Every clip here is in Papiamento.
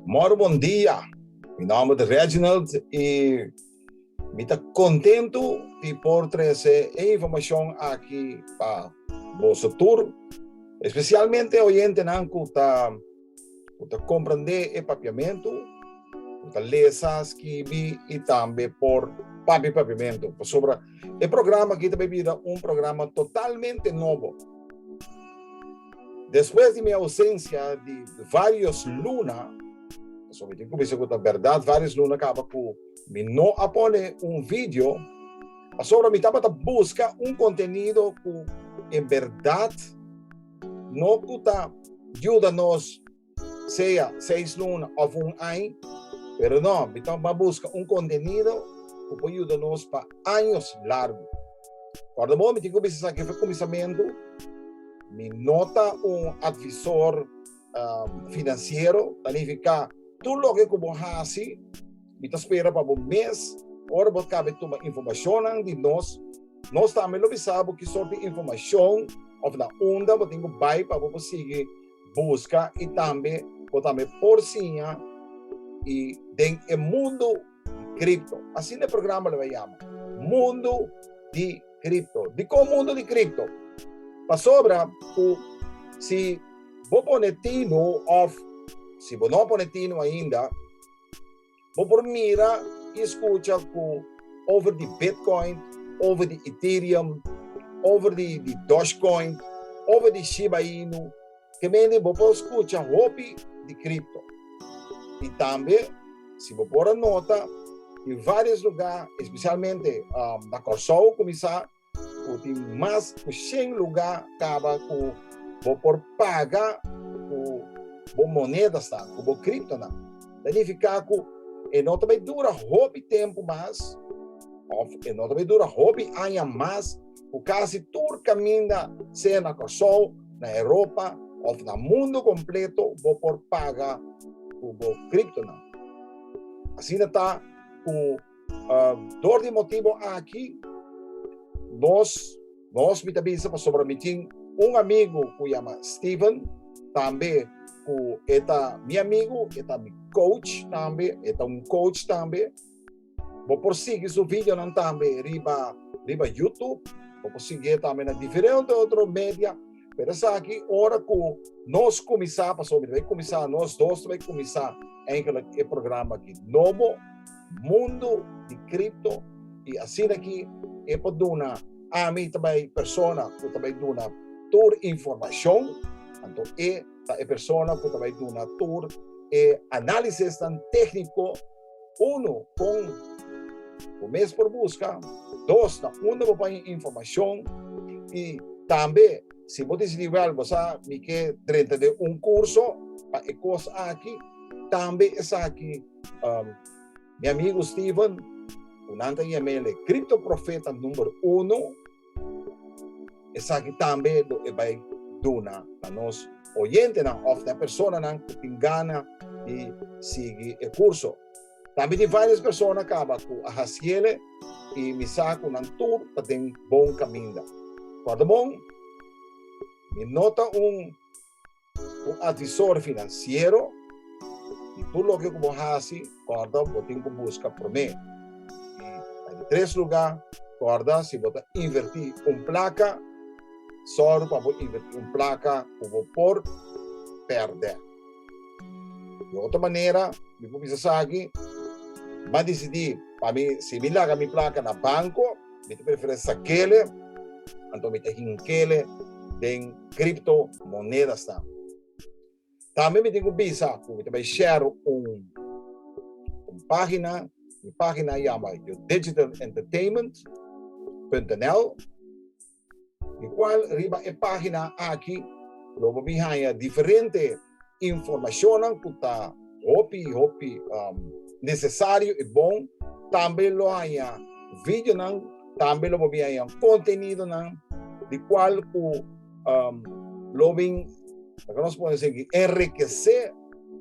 Mor bon dia. Mi nomber ta Reginald y mi ta contento di por trece e informacion aki pa boso tur, especialmente oyentenan cu ta Ku ta komprendé e papiamentu, ku ta lesa, skibi i tambe por papia e papiamentu. Pasobra e programa aki ta bai bira un programa totalmente nobo. Despues di mi ausensia di vários luna, pasobra mi tin kumisa ku ta bèrdat vários luna kaba ku mi no a pone un vidio, pasobra mi tabata buska un kontenido ku en bèrdat, No cu ta yuda nos sea seis luna of un ai, pero no, Bitom a busca un contenido cu por yuda nos pa años largo. Corda bo, mi tin cu bisa esaki fue cuminsamentu, mi no ta un advisor um, financiero, ta nifica tu loke ku bo hasi, mi ta spera pa bo mes, ora bo kabe tuma informacionan di nos, nos tambe lo bisa bo ki sorti informacion of na unda bo tingo bai pa bo bo sigui busca y tambe bo tambe por siña y den e mundo Kripto. Asina e programa lo a yama, Mundu di Kripto. Dikon Mundu di Kripto? Pasobra ku si bo pone tinu òf si bo no pone tinu ainda, bo por mira i skucha ku over di Bitcoin, over di Ethereum, over di Dogecoin, over di Shiba Inu, Kemende bo por skucha hopi di kripto. I tambe, si bo por a nota, tin vários lugá, spesialmente na Kòrsou kuminsá, ku tin mas ku shen lugá kaba ku bo por paga ku bo monedasnan, ku bo kriptonan. Ta nifiká ku e no ta bai dura hopi tempu mas òf e no ta bai dura hopi aña mas ku kasi tur kaminda, sea na Kòrsou, na Europa òf na mundu kompleto, bo por paga ku bo kriptonan. Asina ta ku dor di motibu aki nos nos mi ta bisa pasobra mi tin un amigu ku yama Steven tambe ku e ta mi amigu, e ta mi kouch tambe, e ta un kouch tambe. Bo por sigui su videonan tambe riba riba YouTube. Bo por sigui tambe na diferente otro media. Pero esaki ora cu nos cuminsa, pasobra mi ta bai cuminsa, nos dos ta bai cuminsa eigenlijk e programa aki nobo, Mundo di Cripto, y asina aki e por duna ami ta bai persona cu ta bai duna tur informacion, anto e ta e persona cu ta bai duna tur e analisisnan tecnico. Uno, kon bo mes por buska. Dos, na unda bo paña e informashon. I tambe si bo disidí wèl bo sa mi ke drenta den un kurso pa e kos aki, tambe esaki mi amigu Steven, ku nan ta yam'e el e kriptoprofeta number uno. Esaki tambe lo e bai duna na nos oyentenan òf na e personanan ku tin gana di sigui e kurso. Tambe tin vários persona kaba ku a hasiele i mi sa ku nan tur ta den bon kaminda. Kòrda bon, mi no ta un. Un asesor finansiero i tur loke ku bo hasi kòrda bo tin ku buska promé. I na di tres lugá, kòrda si bo ta invertí un plaka, sòru pa bo invertí un plaka ku bo por pèrdè. Di otro manera mi por bisa esaki, mi a disidí pa mi si mi laga mi plaka na banko, mi ta prefere sakele anto mi ta hinkele den cripto monedas nan. Tambe mi tin ku bisa ku mi ta bai share un un pagina, mi pagina yama yo digital entertainment.nl di kual riba e pagina aki lo bo bin haya diferente informacionnan cu ta hopi hopi um, necesario y bon. Tambe lo haya videonan, tambe lo bobi haya contenidonan, di cual cu um, lo bin, nos podemos decir, enriquecer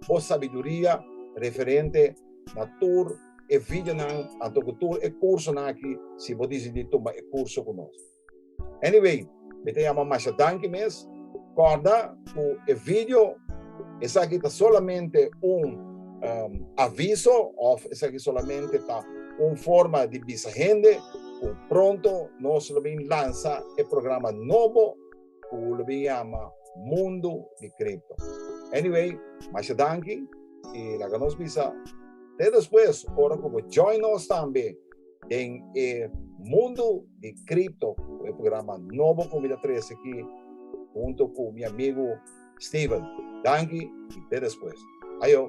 por sabiduría referente na tur e videonan, anto cu tur e cursonan aquí, si bo decidi toma e curso con nos. Anyway, mi ta yama masha danki mes. Kòrda ku e video, esaki ta solamente un aviso òf esaki solamente ta un forma di bisa hende ku pronto nos lo bin lansa e programa nobo ku lo bin yama Mundo di Cripto. Anyway, masha danki i laga nos bisa te despues ora ku bo join nos tambe. den e mundo di cripto cu e programa nobo cu mi ta trece aki hunto cu mi amigo Steven. Danki y te despues. Ayo.